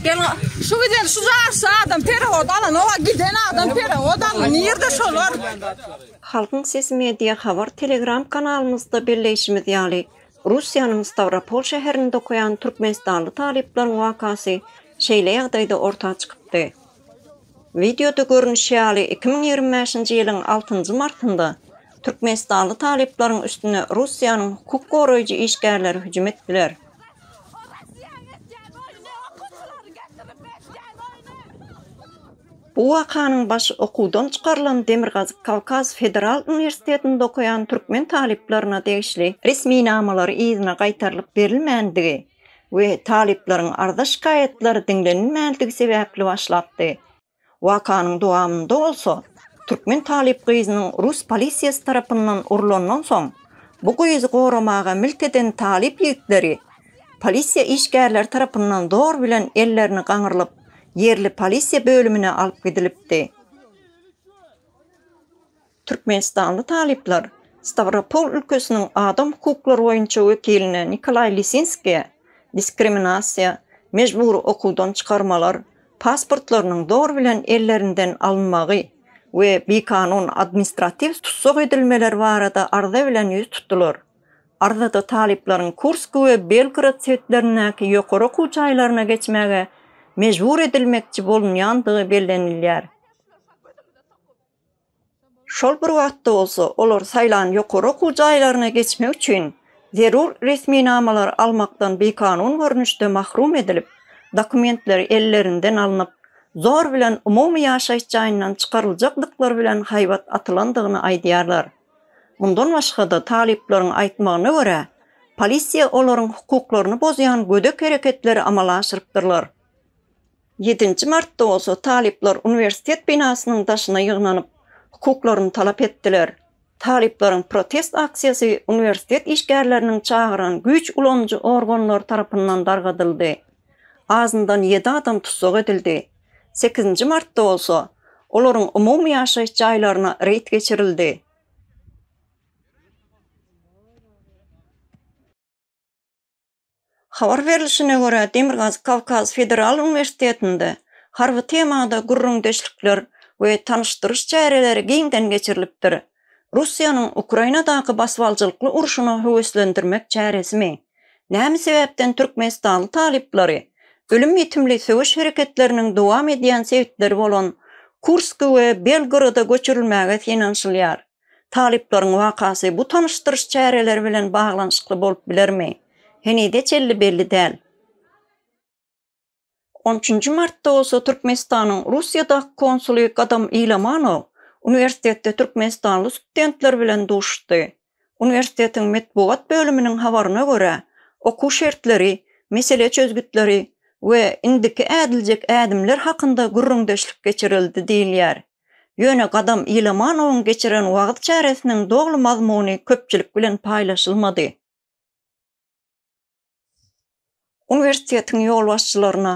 Gel şu giden şu jarsa adam perehod alan owa giden adam perehod alan nirde şolar? Halkyň sesi media habar telegram kanalymyzda belleýşimiz ýaly, Russiýanyň Stawropol şäherinde okaýan türkmenistanly talyplaryň wakasy şeýle ýagdaýda orta çykypdy. Wideoda görnüşi ýaly, iki müň ýigrimi bäşinji ýylyň altynjy martynda türkmenistanly talyplaryň üstüne Russiýanyň hukuk goraýjy işgärleri hüjüm etdiler. Bu wakanyň başy okuwdan çykarylan Demirgazyk Kawkaz federal uniwersitetinde okaýan türkmen talyplaryna degişli resminamalary yzyna gaýtarylyp berilmändigi, we talyplaryň arza-şikaýatlary diňlenilmändigi sebäpli başlapdy. Wakanyň dowamynda bolsa, türkmen talyp gyzynyň rus polisiýasy tarapyndan urlandan soň, bu gyzy goramaga milt eden talyp ýigitleri polisiýa işgärleri tarapyndan zor bilen ellerini gaňyrlyp, ýerli polisiýa bölümine alyp gidilipdi. Türkmenistanly talyplar Stawropol ülkesiniň adam hukuklary boýunça wekilini Nikolaý Lisinskiýe diskriminasiýa, mejbury okuwdan çykarmalar, pasportlarynyň zor bilen ellerinden alynmagy we bikanun administratiw tussag edilmeleri barada arza bilen ýüz tutdular. Arzada talyplaryň Kursk we Belgorod sebitlerindäki ýokary okuw jaýlaryna geçmäge mejbur edilmekçi bolunýandygy bellenilýär. Şol bir wagtda bolsa, olar saýlan ýokary okuw jaýlaryna geçmek üçin zerur resminamalary almakdan bikanun görnüşde mahrum edilip, dokumentleri ellerinden alnyp, zor bilen umumy ýaşaýyş jaýyndan çykaryljakdyklary bilen haýbat atylandygyny aýdýarlar. Mundan başga-da, talyplaryň aýtmagyna görä, polisiýa olaryň hukuklaryny bozýan gödek hereketleri amala aşyrypdyrlar. Ýedinji martda bolsa talyplar uniwersitet binasynyň daşyna ýygnanyp, hukuklaryny talap etdiler. Talyplaryň protest aksiýasy uniwersitet işgärleriniň çagyran güýç ulanyjy organlary tarapyndan dargadyldy. Azyndan ýedi adam tussag edildi. Sekizinji martda bolsa, olaryň umumy ýaşaýyş jaýlaryna reýd geçirildi. Habar berlişine görä, Demirgazyk-Kawkaz federal uniwersitetinde harby temada gürrüňdeşlikler we tanyşdyryş çäreleri giňden geçirilipdir. Russiýanyň Ukrainadaky basybaljylykly urşuna höweslendirmek çäresimi? Näme sebäpden türkmenistanly talyplary ölüm-ýitimli söweş hereketleriniň dowam edýän sebitleri bolan Kursk we Belgoroda göçürilmäge synanyşylýar? Talyplaryň wakasy bu tanyşdyryş çäreleri bilen baglanyşykly bolup bilermi, henize çenli belli däl. On üçünji martda bolsa Türkmenistanyň Russiýadaky konsuly Gadam Ilamanow uniwersitetde türkmenistanly studentler bilen duşuşdy. Uniwersitetiň metbugat bölüminiň habaryna görä, okuw şertleri, mesele çözgütleri we indiki ädiljek ädimler hakynda gürrüňdeşlik geçirildi diýilýär. Ýöne Gadam Ilamanowyň geçiren wagyz çäresiniň doly mazmuny köpçülik bilen paýlaşylmady. Uniwersitetiň ýolbaşçylaryna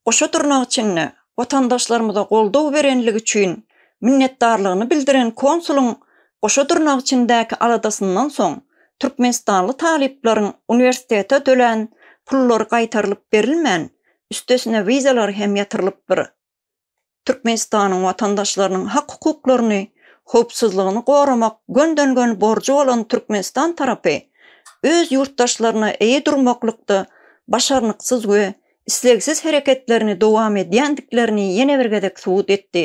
goşa dyrnak içinde watandaşlarymyza goldaw berenligi üçin minnetdarlygyny bildiren konsulyň goşa dyrnak içindäki aladasyndan soň türkmenistanly talyplaryň uniwersitete tölän pullary gaýtarylyp berilmän, üstesine wizalar hem ýatyrylypdyr. Türkmenistanyň watandaşlarynyň hak-hukuklaryny, howpsuzlygyny goramak gönden-gön borjy bolan Türkmenistan tarapy öz ýurtdaşlaryna eýe durmaklykda başarnyksyz we islegsiz hereketlerini dowam edýändiklerini ýene bir gezek subut etdi.